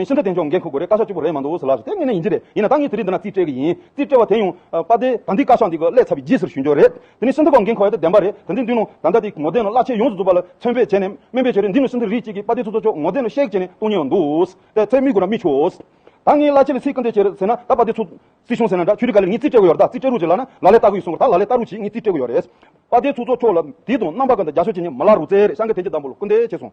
ཡིན། ཤིན་ཏུ་བདེན་ཆོག་འགན་འཁུར་དགོས་རེད་བཀའ་ཤག་བཅུ་པོ་རེད་མ་འདུག་ལབ་ཟེར་དེ་ངེས་ནས་ཡིན་གྱི་རེད་ཡིན་ན་ད་ངས་དེ་རིང་འདི་ན་རྩིས་སྤྲད་གི་ཡིན་རྩིས་སྤྲད་བ་དེ་ཡང་པ་དེ་ད་འདི་བཀའ་ཤག་འདི་གི་ཀླད་ཚ་བའི་རྗེས་ཟེར་ཞུས་འཇོག་རེད་དེ་ནི་ཤིན་ཏུ་ཁོག་འགན་འཁོར་བ་དེ་བདེན་པ་རེད་ད་འདི་མདུན་ནོ་ད་ལྟ་དེ་ངོ་བདེན་ནོ་བླ་ཆེན་ཡོངས་སུ་རྫོགས་པ་ལ་མཚོན་དཔེ་བྱས་ནས་སྨན་པས་བྱས་རེད་འདི་ནི་ཤིན་ཏུ་རིགས་གཅིག་གི་པ་དེ་ཚོ་ཚོ་ཚོ་ངོ་བདེན་ནོ་ཤེས་བྱས་ནས་གཏོང་ཉེ་བ་འདུག་ལྟས་ཚེ་མིག་དགུ་ན་མི་ཆོས། ད་ངས་བླ་ཆེན་ལ་ཚིག་གི་འདྲེ་བྱས་རེད་ཟེར་ན་ད་པ་དེ་ཚོ། སྲིད་གཞུང་ཟེར་ན་འདྲ་ཁྱོད་ཀྱི་ག་ལེར་ངས་རྩིས་སྤྲད་གི་ཡོད་རེད་ད་རྩིས་སྤྲད་རུག་ཅིག་ལབ་ན་ལ་ལས་ལྟ་གི་ཡོད་སོང་ད་ལ་ལས་ལྟ་རུག་ཅིག་ངས་རྩིས་སྤྲད་གི་ཡོད་རེད། པ་དེ་ཚོ་ཚོ་ཁྱོད་ལ་དེ་དང་རྣམ་པ་ག་འདྲ་རྒྱ་ཤོད་བྱས་ནས་མ་ལ་རུག་ཚེ་རེད་ཤང་གི་དེ་འདྲ་འདྲ་པོ་ལ་སྐུར་འདེད་བྱས་སོང།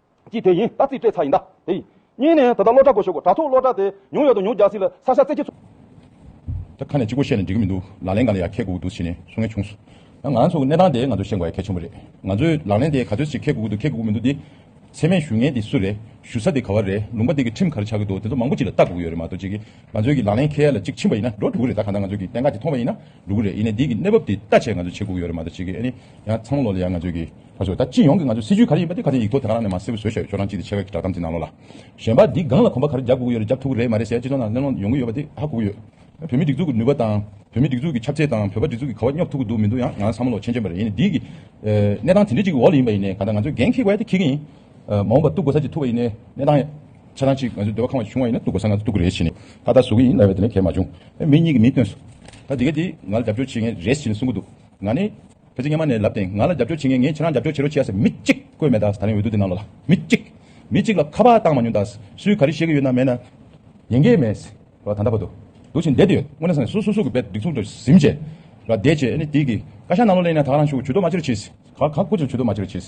ཅི་དེ་ཡིན་ད་རྩིས་སྤྲད་ཚར་ཡིན་ད། དེ་ཡིན། གཉིས་ནས་ད་ལྟ་སློབ་གྲྭ་སྒོ་ཞོག་གོ་དྲ་ཐོག་སློབ་གྲྭ་དེ་ཉུང་ཡོད་དུ་ཉུང་རྒྱག་སྲིད་ལ་ས་ཤ་རྩེ་ཁྱི། ད་ཁ་ནས་ཅི་གོ་བཤད་ནས་འགྲིག་གི་མི་འདུག་ལག་ལེན་ག་ལ་ཡག་ཁད་གུག་གུག་འདུག་ཕྱི་ནས་སུ་ངན་བྱུང། ད་ང་ཚོ་གི་གནས་སྟངས་དེ་ང་ཚོ་ཤེས་དགོས་ཡ་ཁད་ཆེན་པོ་རེད། ང་ཚོས་ལག་ལེན་དེ་ག་ཚོད་ཅིག་ཁད་གུག་གུག་འདུག་ཁད་གུག་གུག་མི་འདུག་དེ། ཚད་མའི་ཞུ་ངན་དེ་སུ་རེད། ཞུ་ས་དེ་ག་བ་རེད་ལུང་པ་དེ་གི་ཁྲིམས་ག་རེ་ཆགས་ཀྱི་འདུག་དེ་ཚོ་མང་པོ་ཅིག་ལ་ལྟ་དགོས་ཀྱི་ཡོད་རེད་མ་གཏོགས་ཅིག་ང་ཚོའི་གི་ལག་ལེན་ཁད་ལ་ཅིག་ཕྱིན་པ་ཡིན་ན་འགྲོ་འགྲོ་གི་རེད་ད་ག་ད་ང་ཚོའི་གི་གཏན་འགག་ཅིག་མཐོང་བ་ཡིན་ན་འགྲོ་གི་རེད་ཡིན་ནས་དེ་གི་གནས་བབ་དེ་ལྟ་ཆེད་ང་ཚོ་བྱེད་དགོས་ཀྱི་ཡོད་རེད་མ་གཏོགས་ཅིག་གི་ཨ་ནི་ཡང་ཚང་ལོ་ལ་ཡང་ང་ཚོའི་གི། ད་ཆོག་ད་སྤྱི་ཡོངས་ཀྱི་ང་ཚོའི་སྲིད་ཇུས་ག་རེ་ཡིན་པ་དེ་ག་ཚད་ཡིག་ཐོག་དེ་ག་རང་ནས་མ་གསལ་བོ་བཟོས་ཤོག་ཁྱོད་རང་ཅིག་དེ་ཆེ་བས་ཀྱི་བསྒྲགས་གཏམ་གྱི་ནང་ལོགས་ལ། གཞན་པ་འདིས་སྒང་ལ་གོམ་པ་ག་རེ་རྒྱག་དགོས་ཀྱི་ཡོད་རེད་རྒྱག་ཐུབ་ཀྱི་རེད་མ་རེད་ཟེར་ཡ་སྤྱི་ཚོགས་ནང་གླེང་སློང་ཡོང་གི་ཡོད་པ་དེ་ཧ་གོ་གི་ཡོད། བོད་མིའི་སྒྲིག་འཛུགས་ཀྱི་ནུས་པ་དང། བོད་མིའི་སྒྲིག་འཛུགས་ཀྱི་ཁྱབ་ཚད་དང་བོད་པ་སྒྲིག་འཛུགས་ཀྱི་ཁ་བ་སྙོབ་ཐུབ་ཀྱི་འདུག་མི་འདུག་ཡང་ང་ལ་བསམ་བློ་ཆེན་ཆེན་པོ་རེད་ཡིན་ནའི་འདིའི་གནས་སྟངས་དེ་འདྲི་གཅིག་གི་འོག་ལ་ཡིན་པ་ཡིན་ནའི་ག་ད་ང་ཚོས་འགན་འཁྱེར་དགོས་ཡ་དེ་འཁྱེར་གྱི་ཡིན། མ་འོངས་པ་གཏུག་དགོས་ས་ཅིག་ཐུག་པ་ཡིན་ནའི་གནས་སྟངས་ཆ་ཚང་ཅིག་ང་ཚོའི་འདོད་པ་ཁང་བ་བྱུང་བ་ཡིན་ནའི་གཏུག་དགོས་ས་ང་ཚོས་གཏུག་གི་རེད་བྱས་ནས་ད་ད་བཟོ་གི་ཡིན་ལབ་ཡ་དེ་ནས་གལ་མ་བྱུང། མི་གཉིས་ཀྱི་མིང་བཏོན་སོང། ད་དེ་ག་དེ་ང་ལ་རྒྱབ་སྐྱོར་བྱེད་མཁན་རེད་བྱས་ནས་གསུང་གི་འདུག་ང་ནི། བོད་ཚེ་སྔ་མ་ནས་ལབ་སྟེང་ང་ལ་རྒྱབ་སྐྱོར་བྱེད་མཁན་ངས་ཁྱེད་རང་རྒྱབ་སྐྱོར་བྱེད་རོགས་བྱས་ཟེར་མི་གཅིག་བཀོད་མེད་ད་རིང་འོས་བསྡུ་དེ་ནང་ལོགས་ལ་མི་གཅིག་མི་གཅིག་ལ་ཁ་པར་བཏང་མ་མྱོང་ད་སུས་ག་རེ་བཤད་ཀྱི་ཡོད་ན་མེད་ན། ཡན་གྱི་མེད། ར་ད་ད་པ་དུ་འདུག་ཅིང་བསྡད་དུ་ཡོད་དངོས་ནས་སུ་སུ་སུ་གི་བེད་སྒྲིག་ཚུགས་འདུག་གཟིམ་བྱས། ར་བསྡད་བྱས་ཨ་ནི་དེ་གི་བཀའ་ཤག་ནང་ལོགས་ལེན་ན་ད་རང་ཤུགས་ཇུས་གཏོགས་མ་བྱེད་རོགས་བྱས། ག་ག་དགོས་ཚུལ་ཇུས་གཏོགས་མ་བྱེད་རོགས་བྱས།